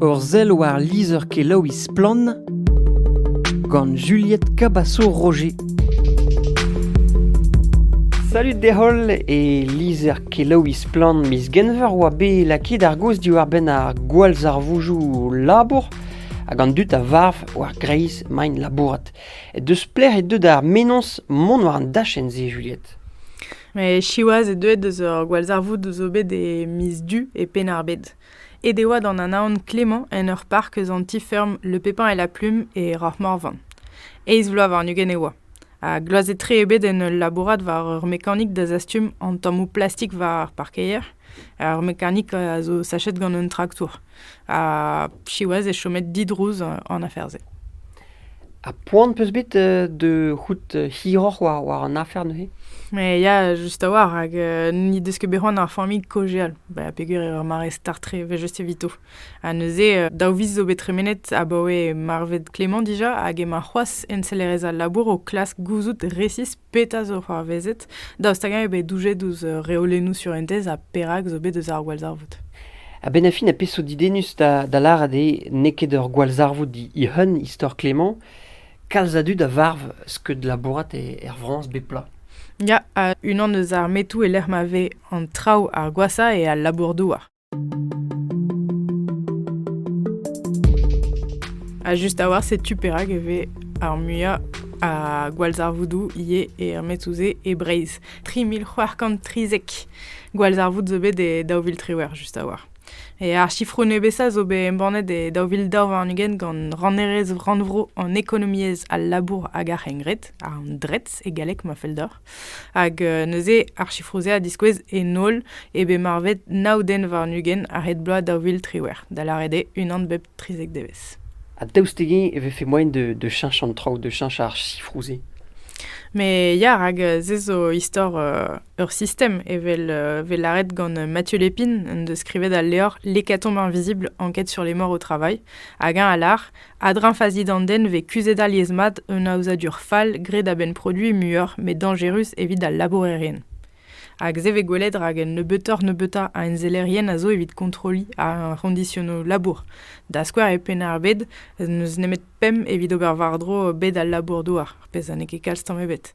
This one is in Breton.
Ur sell war lizher-kelaouiñ Splann! gant Juliette Cabasso-Roger. Salut deholl e lizher-kelaouiñ Splann! miz Genver oa bet lakaet ar gaoz diwar-benn ar gwallzarvoujoù labour hag an dud a varv war greiz maint labourat. Deus plec'h eo deuet ar menoz mont war an dachenn-se, Juliette? Met siwazh eo deuet eus ur gwallzarvoud zo bet e miz Du e Penn-ar-Bed. Aet e oa d'an anaon Clément en ur park eus an ti-feurm Le Pépin et la Plume e Rahmorvan. Eizh vloaz warn-ugent e oa, ha gloazet-tre eo bet en ul labourat war ur mekanik da zastum an tammoù plastik war ar parkeier. Ar mekanik a zo sachet gant un traktour, ha siwazh eo chomet didrouz an afer-se. Ha poan 'peus bet euh, da c'hoût hiroc'h war, war an afer neuze? Mais ya, just a-walc'h, hag euh, n'he deus ket bet c'hoant ar familh kojeal, ba, peger eo ar mare start tre, evel just evito. Ha neuze, euh, daou viz zo bet tremenet abaoe marvet Clément dija, hag emañ c'hoazh ensellerez al labour o klask gouzout resis petra zo c'hoarvezet, daoust hag-eñ eo bet doujet ouzh reolennoù surentez ha perak zo bet eus ar gwallzarvoud. Ha benafin, a peso didennus da, da lâret eo n'eo ket ur gwallzarvoud hihun, istor Clément, kalz a dud a varv skeud labourat er Frañs bep bloaz. Ya, unan eus ar metoù e-lec'h ma vez an traoù ar gwashañ eo al labour-douar. Ha just a-walc'h, setu perak e vez ar muiañ a gwallzarvoudoù ivez e Metsouzé e Breizh. 3030 gwallzarvoud zo bet e daou vil triwec'h just a-walc'h. E ar sifroù nebesañ zo bet embannet e daou vil daou warn-ugent gant rannerez rannvro an ekonomiezh, al labour hag ar c'hengred, an DRETS e galleg ma fell deoc'h. Hag euh, neuze ar chifroù-se a diskouez en holl eo bet marvet nav den warn-ugent a-hed bloaz daou vil triwec'h, da lâret eo unan bep trizek devezh. Ha daoust dezhi e vefe moaien de, de cheñch an traoù, de cheñch ar chifroù-se Mais ya, rak euh, se zo istor euh, ur sistem, evel euh, vez lâret gant Mathieu Lépine, en deus skrivet al levr L'hécatombe invisible, enquête sur les morts au travail, hag eñ a lâr A-dreñv fazi d'an den e vez kuzhet alies-mat un aozadur fall graet a-benn produiñ muioc'h met dañjerus evit al labourerien. Hag se vez gwelet rak un nebeutoc'h-nebeutañ a ensellerien a zo evit kontrolliñ ar c'hondisionoù labour. Da skouer e Penn-ar-Bed n'eus nemet pemp evit ober war-dro bed al labour-douar, pezh ha n'eo ket kalz tamm ebet.